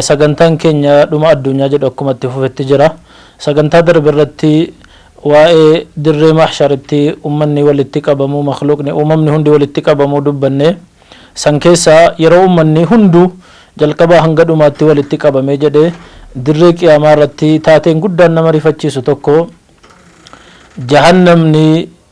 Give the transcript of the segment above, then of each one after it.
Sagantaan keenya Dhuma Addunyaa jedhu akkuma itti fufetti jira. Sagantaa darbe irratti waa'ee dirree mahsharitti ummanni walitti qabamuu, makhluuqni, uumamni hundi walitti qabamuu dubbanne. San keessaa yeroo ummanni hunduu jalqabaa hanga dhumaatti walitti qabamee jedhe dirree qiyaamaa irratti taateen guddaan nama rifachiisu tokko jahannamni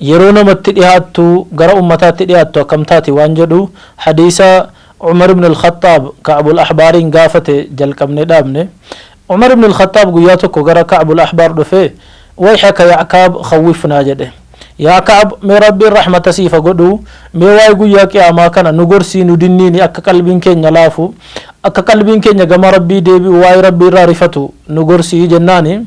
Yeroo namatti dhihaattu, gara ummataatti dhihaattu akkam taati waan jedhu hadiisa Umar ibn al-Khaxxaab Ka'b al-Ahbaariin gaafate jalqabnee dhaabne. Umar ibn al-Khaxxaab guyyaa tokko gara Ka'b al-Ahbaar dhufee, Wayhaka ya'kaab khawwifnaa jedhe. Yaa Ka'b, mee Rabbiin rahmata siif ha godhu, mee waa'ee guyyaa qiyaamaa kana nu gorsii nu dinniini akka qalbiin keenya laafu, akka qalbiin keenya gama Rabbii deebi'u waa'ee Rabbii irraa rifatu nu gorsii jennaani.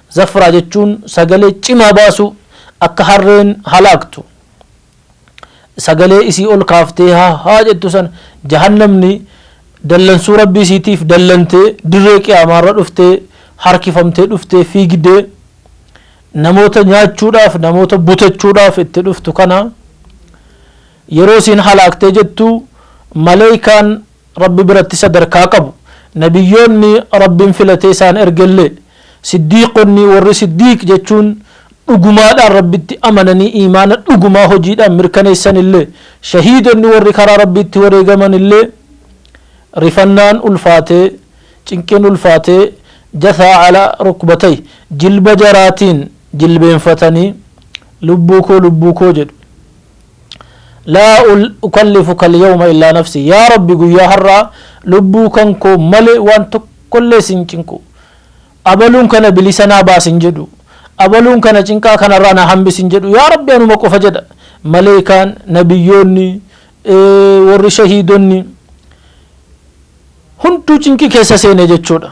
Zafraa jechuun sagalee cimaa baasuu, akka harreen halaaktu sagalee isii ol kaaftee haa haa jettu sana, jahannamni dallansuu Rabbii isiitiif dallantee dirree qiyaamaarra dhuftee harkifamtee dhuftee fiigdee namoota nyaachuudhaaf namoota butachuudhaaf itti dhuftu kana yeroo isiin halaaktee jettu maleeykaan Rabbi biratti sadarkaa qabu. Nabiyyoonni Rabbiin filatee isaan ergellee, Siddiiqonni, warri Siddiiq jechuun dhugumaadhaan Rabbitti amananii iimaana dhugumaa hojiidhaan mirkaneessanillee, shahiidonni warri karaa Rabbiitti wareegamanillee rifannaan ulfaatee, cinqiin ulfaatee, Jasaa ala rukbatay, jilba jaraatiin jilbeenfatanii, Lubbuu koo, lubbuu koo jedhu. laa ukallifu kalyawma illaa nafsii yaa rabbi guyyaa har'aa lubbuu kan koo malee waan tokkollee sin cinqu abaluun kana bilisa naa baasi hin jedhu abaluun kana cinqaa kanarraa na hambisi hin jedhu yaa rabbi anuma qofa jedha maleeykaan nabiyyoonni warri shahiidonni hunduu cinqii keessa seene jechuudha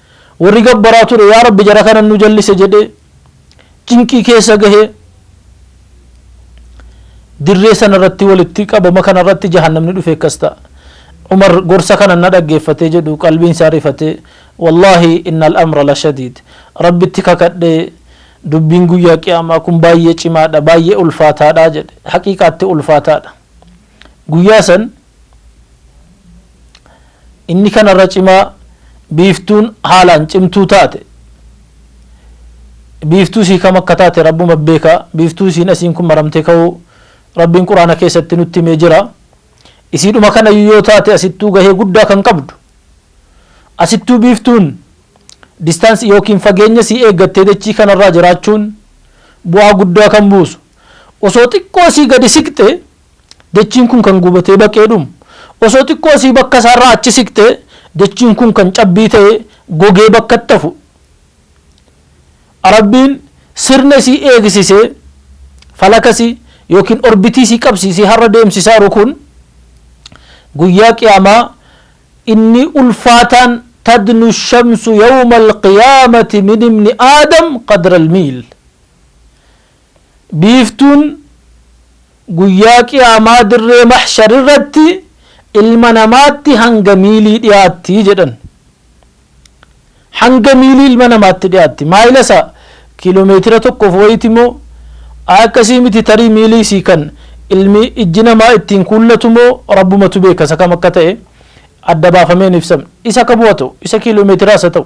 Warri gabbaraa ture yaa Rabbi jara kana nu jallise jedhee cinqii keessa gahee dirree sana irratti walitti qabama kana irratti jahannamni dhufe akkas ta'a. Umar gorsa kana na dhaggeeffatee jedhu qalbiin isaa rifatee wallaahi innal amra la shadiid rabbitti kakadhee dubbiin guyyaa qiyaamaa kun baay'ee cimaadha baay'ee ulfaataadha jedhe haqiiqaatti ulfaataadha. Guyyaa san Inni kanarra cimaa biiftuun haalaan cimtuu taate. Biiftuu isii kam akka taate Rabbuma beeka. Biiftuu isiin asiin kun maramtee ka'uu Rabbiin Qur'aana keessatti nutti himee jira. Isiidhuma kanayyu yoo taate asittuu gahee guddaa kan qabdu. Asittuu biiftuun distance ykn fageenya sii eeggattee dachii kanarraa jiraachuun bu'aa guddaa kan buusu. Osoo xiqqoo sii gadi siqxe Dachiin kun kan gubatee baqee dhumu. Osoo xiqqoo asii bakka isaarraa achi siqtee dachiin kun kan cabbii ta'ee gogee bakkatti hafu. Rabbiin sirna isii eegsisee falaka isii yookiin orbitii isii qabsiisee har'a deemsisaa jiru kun guyyaa qiyaamaa inni ulfaataan tadnu shamsu yawma alqiyaamati min ibni aadam qadra almiil Biiftuun Guyyaa Qiyaamaa dirree Mahshar irratti ilma namaatti hanga miilii dhiyaatti jedhan. Hanga miilii ilma namaatti dhiyaatti. Maayila isaa kiilomeetira tokkoof wayiti moo? Ayi akkasii miti tarii miilii isii kan ilmi ijji namaa ittiin kuullatu moo Rabbumatu beeka isa kam akka ta'e adda baafamee hin ibsamne. Isa kamuu haa ta'u, isa kiilomeetiraa isa ta'u.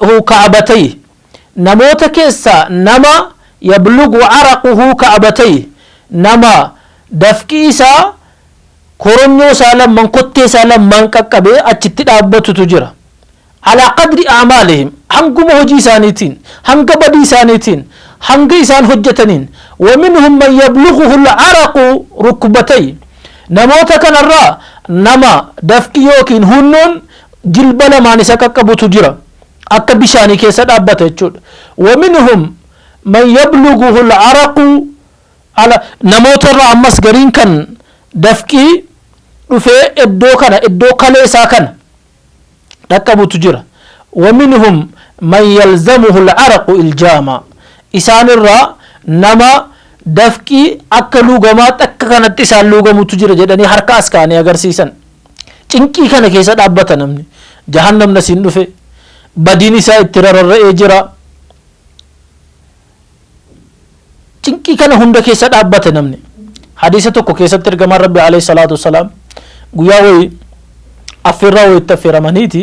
hu ka'batayhi, Namoota keessaa nama yablughu araquhu ka'batayhi, Nama dafqi isaa koronyoo isaa lamman, kottee isaa lammaan qaqqabee achitti dhaabbatutu jira. Alaa qadri a'maalihim, Hanguma hojii isaaniitiin, hanga badii isaaniitiin, hanga isaan hojjataniin. Wa minhum man yablughuhul araqu rukbatayhi, Namoota kanarraa nama dafqi ykn huunnoon jilba lamaan isa qaqqabutu jira akka bishaanii keessa dhaabbata jechuudha waminhum man yabluguhu alcaraqu ala namoota irraa ammas gariin kan dafqii dhufee iddoo kana iddoo kalee isaa kana dhaqqabutu jira waminhum man yalzamuhu alcaraqu iljaama isaan irraa nama dafqii akka luugamaatti akka kanatti isaan luugamutu jira jedhanii harka as kaanii agarsiisan Cinqii kana keessa dhaabbata namni. Jahannam nasiin dhufe. Badiin isaa itti rararra'ee jira. Cinqii kana hunda keessa dhaabbate namni. Hadiisa tokko keessatti ergamaan Rabbi alayhi salaatu wassalaam guyyaa wayii affeerraa wayitti affeeramaniiti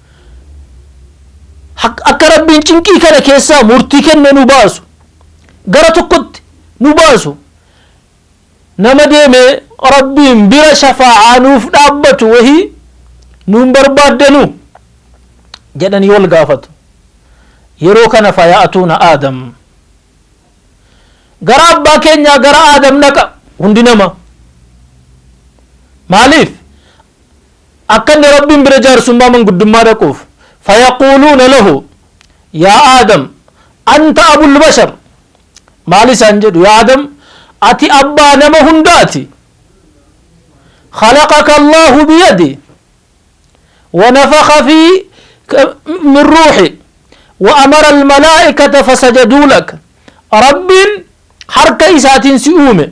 Akka Rabbiin cinqii kana keessaa murtii kennee nu baasu, gara tokkotti nu baasu, nama deemee Rabbiin bira shafaa'aa nuuf dhaabbatu wahii nuun barbaaddanu? jedhanii wal gaafatu. Yeroo kana faya'atuuna Aadam. Gara abbaa keenyaa gara Aadam dhaqa hundi nama. Maaliif? Akka inni Rabbiin bira jaarsummaa manguddummaa dhaquuf, fayaquuluuna lahu, Yaa Aadam, anta abul bashar, maal isaan jedhu, Yaa Aadam, ati abbaa nama hundaati, khalaqaka Allaahu biyadih, wa nafakha fii ka min ruuhi, wa amara almalaa'ikata fasajaduu laka, Rabbiin harka isaatiin si uume,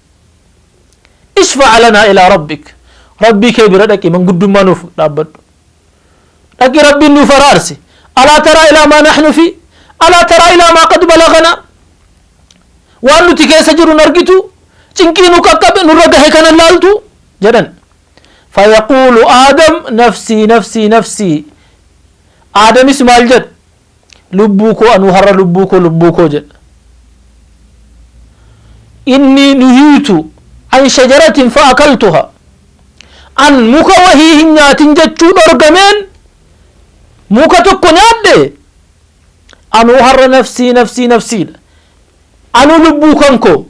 Ishfa' lanaa ilaa rabbik Rabbii kee bira dhaqi manguddummaa nuuf dhaabbadhu dhaqi Rabbiin nuuf araarsi alaa taraa ilaa maa naxnu fii alaa taraa ilaa maa qad balaganaa waan nuti keessa jirru hin argituu cinqii nu qaqqabe nurra gahe kana hin laaltuu jedhan fayaquulu aadam nafsii nafsii nafsii aadamis maal jedha Lubbuu koo anuu har'a lubbuu koo lubbuu koo jedha. Inni nuhiitu an shajaratin fa akaltuha. An muka wahii hin nyaatin jechuu dhorgameen muka tokko nyaadhe anuu har'a nafsii nafsii nafsiidha. Anuu lubbuu kan koo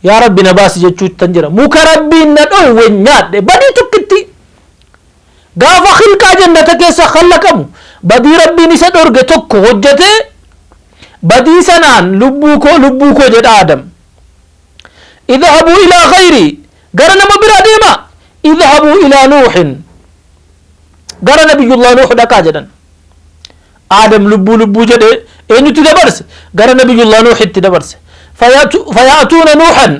yaa rabbi na baasi jechuuttan jira. Muka rabbiin na dhoowwe nyaadhe badii tokkitti. Gaafa khilqaa jannata keessa khallaqamu badii Rabbiin isa dhorge tokko hojjatee badii sanaan lubbuu koo lubbuu koo jedha Aadam. Idhahabuu ilaa khayrii gara nama biraa deemaa idhahabuu ilaa Nuuhin gara nabiyyullah Nuuh dhaqaa jedhan. Aadam lubbuu lubbuu jedhe eenyutti dabarse? Gara Nabiyyullaah Nuuhitti dabarse. Faya'atuuna Nuuhan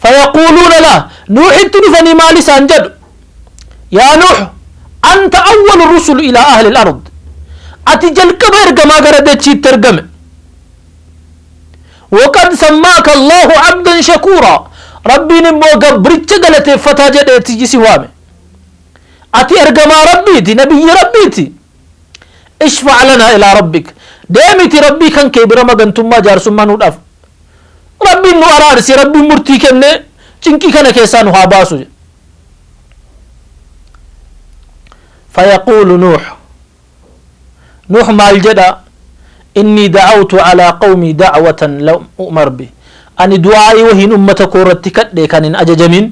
fayaquuluuna lah Nuuhitti dhufanii maal isaan jedhu? Yaa Nuuh anta awwalu rusul ilaa ahli al-ard ati jalqaba ergamaa gara dachiitti ergame. Waqad sammaaka Allaahu abdan shakuuraa Rabbiin immoo gabricha galateeffataa jedheeti si waame. Ati ergamaa Rabbiiti, nabiyyii Rabbiiti. Ishfa lanaa ilaa rabbik deemiti rabbii kan kee bira magantummaa jaarsummaa nu dhaf rabbiin nu araarsi rabbiin murtii kennee cinqii kana keessaa nu haa baasu jedhe fayaquulu nuuh nuuh maal jedha innii da'awtu alaa qawmii da'watan lam u'mar bi ani du'aa'ii wahiin ummata koo irratti kadhe kan hin ajajamin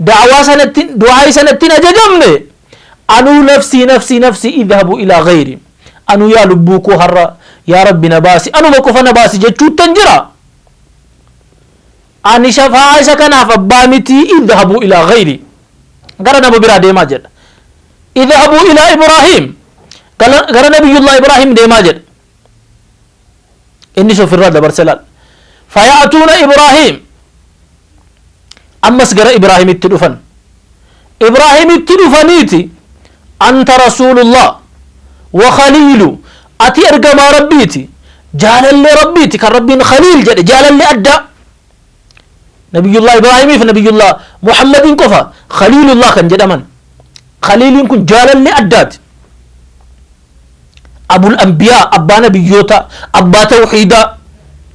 da'awaa sanatti du'aayi sanatti hin ajajamne anuu nafsii nafsii nafsii idhabu ilaa gayri anuu yaa lubbuu koo har'a yaa rabbi na baasi anuma qofa na baasi jechuuttan jira ani shafa'aa isa kanaaf abbaa miti idhabu ilaa gayri gara nama biraa deemaa jedha idhabu ilaa ibraahiim gara nabiyullah ibraahiim deemaa jedha innis ofirraa dabarse laal faya'atuuna ibraahiim ammas gara ibraahimitti dhufan ibraahimitti dhufaniiti anta rasuulullah wa khaliilu ati ergamaa rabbiiti jaalallee rabbiiti kan rabbiin khaliil jedhe jaalallee addaa Nabiyyullaah Ibraahimii fi Nabiyyullaah Muhammadiin qofa Khaliilullaah kan jedhaman. Khaliiliin kun jaalallee addaati. Abul Anbiyaa, abbaa nabiyyoota, abbaa tawhiidaa.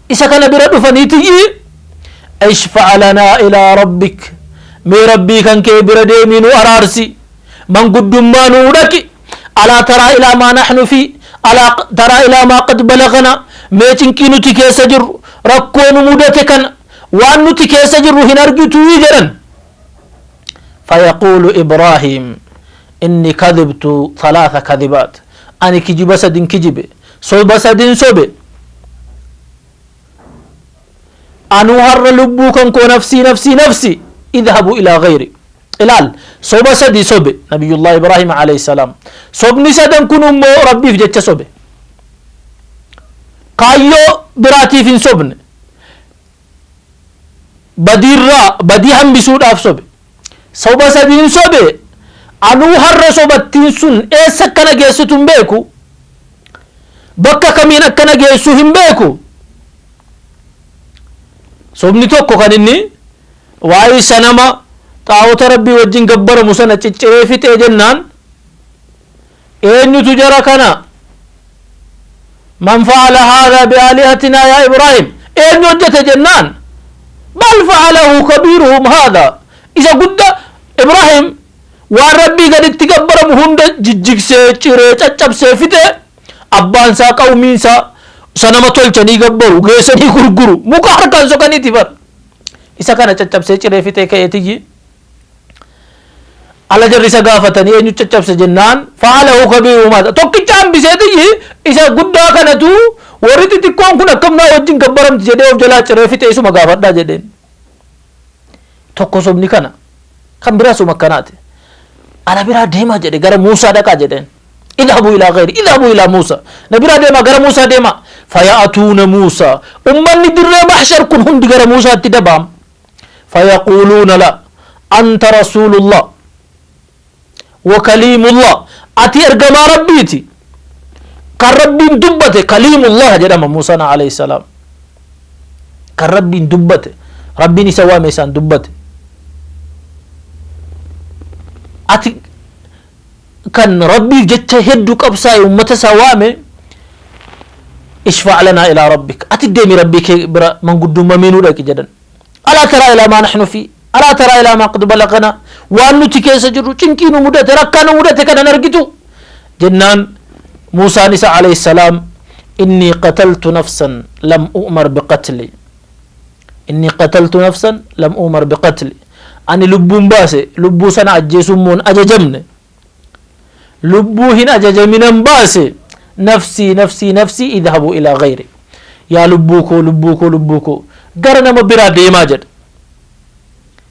Isa kana bira dhufaniitiyyi ishfa'a lanaa ilaa rabbik mee rabbii kan kee bira deemii nu araarsi manguddummaa nuu dhaqi Alaa taraa ilaa maa naxnu fii Alaa taraa ilaa maa qad balaganaa Mee cinqii nuti keessa jirru Rakkoo nu mudate kana Waan nuti keessa jirru hin argituu jedhan Fayaquulu Ibraahiim Inni kadhibtu thalaatha kadhibaat Ani kijiba sadin kijibe Soba sadin sobe Anuu har'a lubbuu kan koo nafsii nafsii nafsii Idhabu ilaa gayri Ilaal! Soba sadi sobe Nabiyyullaahi Ibraahiim aleyh salaam. Sobni sadan kun immoo Rabbiif jecha sobe. Kaayyoo biraatiif hin sobne. Badiirraa, badii hambisuudhaaf sobe. Soba sadiin sobe, anuu har'a sobattiin sun eessa akka na geessitu hin beeku, bakka kamiin akka na geessu hin beeku. Sobni tokko kan inni waa'ee sanama xaa'ota Rabbii wajjin gabbaramu sana cicciree fixee jennaan eenyutu jara kana man fa'ala haadha bi'aalihatinaa yaa Ibraahim eenyu hojjete jennaan bal fa'alahu kabiiruhum haadha isa gudda Ibraahim waan Rabbii gaditti gabbaramu hunda jijjigsee ciree caccabsee fixee abbaan isaa qawmiin isaa sanama tolchanii gabbaru geessanii gurguru muka harkaan sokaniiti bara Isa kana caccabsee ciree fixee ka'ee tiyyi ala jarri isa gaafatanii eenyu caccabse jennaan fa'alahu kabiiruhum haadha tokkicha hambisee tiyyi isa guddaa kanatu warri xixiqqoon kun akkam naa wajjin gabbaramti jedhee of jalaa ciree fixee isuma gaafadhaa jedheen tokko sobni kana kan biraa suma akkanaati ala biraa deemaa jedhe gara Muusaa dhaqaa jedheen. Idhabuu ilaa gayri idhabuu ilaa Muusa. Na biraa deemaa gara Muusaa deemaa. Faya'atuuna Muusa. Ummanni dirree mahshar kun hundi gara Muusaatti dabaam. Fayaquuluuna la anta rasuulullah wa kaliimullah ati ergamaa rabbiiti kan rabbiin dubbate kaliimullah jedhama Muusaan alayhi salaam kan rabbiin dubbate rabbiin isa waame isaan dubbate ati kan rabbiif jecha heddu qabsaa'e ummata isaa waame ishfaa' lanaa ilaa rabbik ati deemi rabbii kee bira manguddummamii nu dhaqi jedhan alaa taraa ilaa maa naxnu fi alaa taraa ilaa maa qad balagana waan nuti keessa jirru cinqii nu mudate rakkaa nu mudate kanan argitu jennaan muusaan isa alayhi salaam innii qataltu nafsan lam u'mar biqatli Innii qataltu nafsan lam uumar biqatli Ani lubbuu hin baase, lubbuu sana ajjeesuu immoo hin ajajamne. Lubbuu hin ajajaminan baase, nafsii nafsii nafsii idhabuu ilaa ghayri Yaa lubbuu koo, lubbuu koo, lubbuu koo, gara nama biraa deemaa jedhe.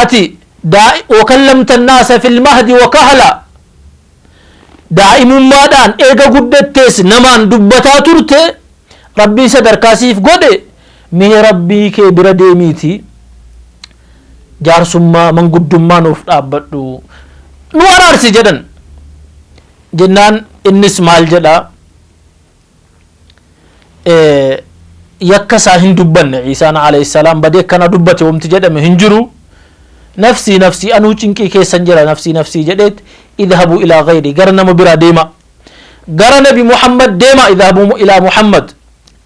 Ati, daa, wakallamta annaasa fil mahdi wa kahla, daa'imummaadhaan eega guddattees namaan dubbataa turte, Rabbiin sadarkaa siif godhe, mee Rabbii kee bira deemiitii jaarsummaa, manguddummaa nuuf dhaabbadhu, nu araarsi jedhan. Jennaan innis maal jedha? yakka isaa hin dubbanne ciisaan alayhi salaam badee akkana dubbate wamti jedhame hin jiru nafsii nafsii anuu cinqii keessan jira nafsii nafsii jedheet idhabu ilaa gayri gara nama biraa deema gara nabi muhammad deema idhabu ilaa muhammad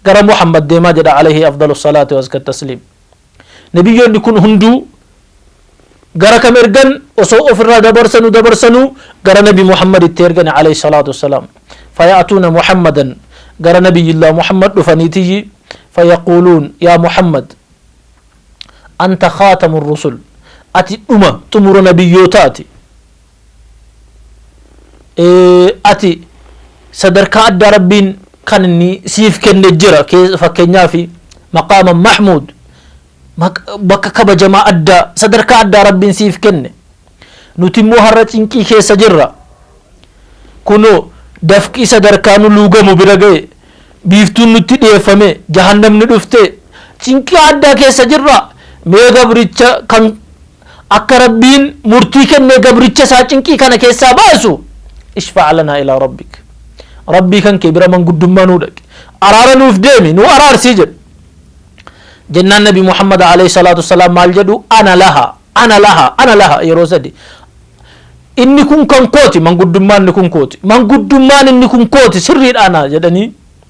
gara muhammad deema jedha alayhi afdalu salaati waska tasliim Nabiyyoonni kun hunduu gara kam ergan osoo ofirraa dabarsanu dabarsanu gara nabi Muhammaditti ergani alayhi salaatu wassalaam. Faya'atuuna Muhammadan gara nabiyyillah Muhammad dhufaniitiyyi fayaquuluun yaa Muhammad anta khaatamu rusul ati dhuma xumura nabiyyootaati. ati sadarkaa addaa rabbiin kan inni siif kenne jira fakkeenyaaf maqaama mahmuud bakka kabajamaa addaa sadarkaa addaa rabbiin siif kenne nuti immoo har'a cinqii keessa jirra kunoo dafqii sadarkaa nu luugamu bira ga'e biiftuun nutti dhiyeeffame jahannamni dhufte cinqii addaa keessa jirra mee gabricha kan Akka Rabbiin murtii kennee gabricha isaa cinqii kana keessaa baasu ishfa' lanaa ilaa rabbik Rabbii kan kee bira manguddummaa nuu dhaqi araara nuuf deemi nuu araarsi jedhe jennaan nabi Muhammad alayhi salaatu wassalaam maal jedhu ana laha ana laha ana laha yeroo sadi inni kun kan kooti manguddummaan inni kun kooti manguddummaan inni kun kooti sirriidhaana jedhanii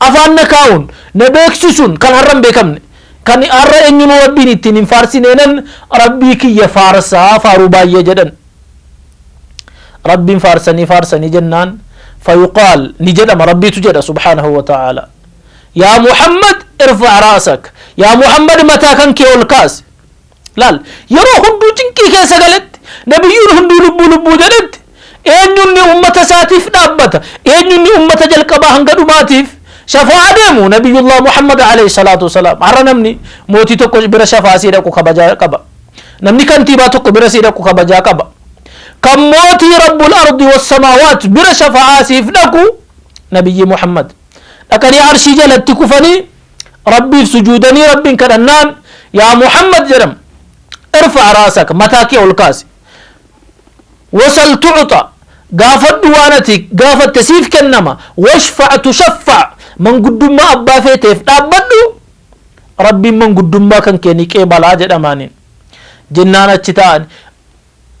Afaan na kaa'uun, na beeksisuun kan har'a hin beekamne. Kan har'a eenyunuu Rabbiin ittiin hin faarsineenan Rabbii kiyya faarsa, faaruu baay'ee jedhan. Rabbiin faarsanii faarsanii jennaan, fayuqaal, ni jedhama, Rabbiitu jedha subhaanahu wa ta'aalaa. Yaa Muhammad irfa' ra'sak, yaa Muhammad mataa kan kee ol kaasi. Laal, yeroo hunduu cinqii keessa galetti, nabiyyuun hunduu lubbuu lubbuu jedhetti, eenyunni ummata isaatiif dhaabbata, eenyunni ummata jalqabaa hanga dhumaatiif shafaa'aa deemu, nabiyyullaah Muhammad aleyh salaatu wasalaam. Har'a namni mootii tokko bira shafaa'aa sii dhaqu kabajaa qaba. Namni kantiibaa tokko bira sii dhaqu kabajaa qaba. Kan mootii rabbul ardi wassamaawaat bira shafaa'aa siif dhaqu nabiyyii Muhammad. Dhaqanii arshii jalatti kufanii Rabbiif sujuudanii Rabbiin kadhannaan yaa Muhammad jedham irfa'a raasaka mataa kee ol kaasi wasal tu'uxa gaafadhu waan ati gaafatte siif kennama washfa'a tushaffa'a manguddummaa abbaa feeteef dhaabbadhu Rabbiin manguddummaa kan kee ni qeebalaa jedhamaaniin jennaan achi ta'an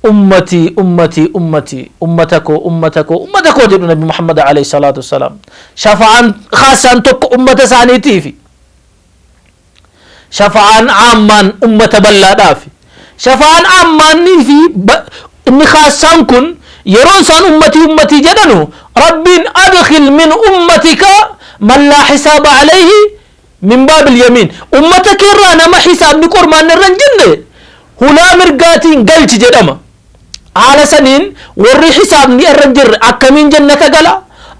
Ummatii ummatii ummatii ummata koo ummata koo ummata koo jedhu nabi muhammad aleyh salaatu wasalaam shafa'aan khaassaan tokko ummata isaaniitiifi shafa'aan aammaan ummata bal'aadhaafi shafa'aan aammaannii fi inni khaassaan kun yeroo isaan ummatii ummatii jedhanu rabbiin adkhil min ummatika man laa hisaaba aleyhi min baabil yamiin, ummata kee irraa nama hisaabni qormaanni irra hin jirre hulaa mirgaatiin galchi jedhama. Haala saniin warri hisaabni irra hin jirre akkamiin jannata gala?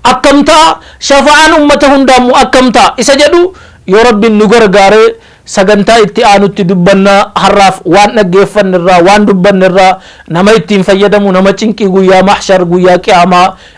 Akkam ta'a? Shafa'aan ummata hundaa immoo akkam ta'a? Isa jedhu yoo Rabbiin nu gargaare sagantaa itti aanutti dubbanna. Har'aaf waan dhaggeeffanne irraa, waan dubbanne irraa nama ittiin fayyadamu, nama cinqii guyyaa mahshar, guyyaa qiyaamaa,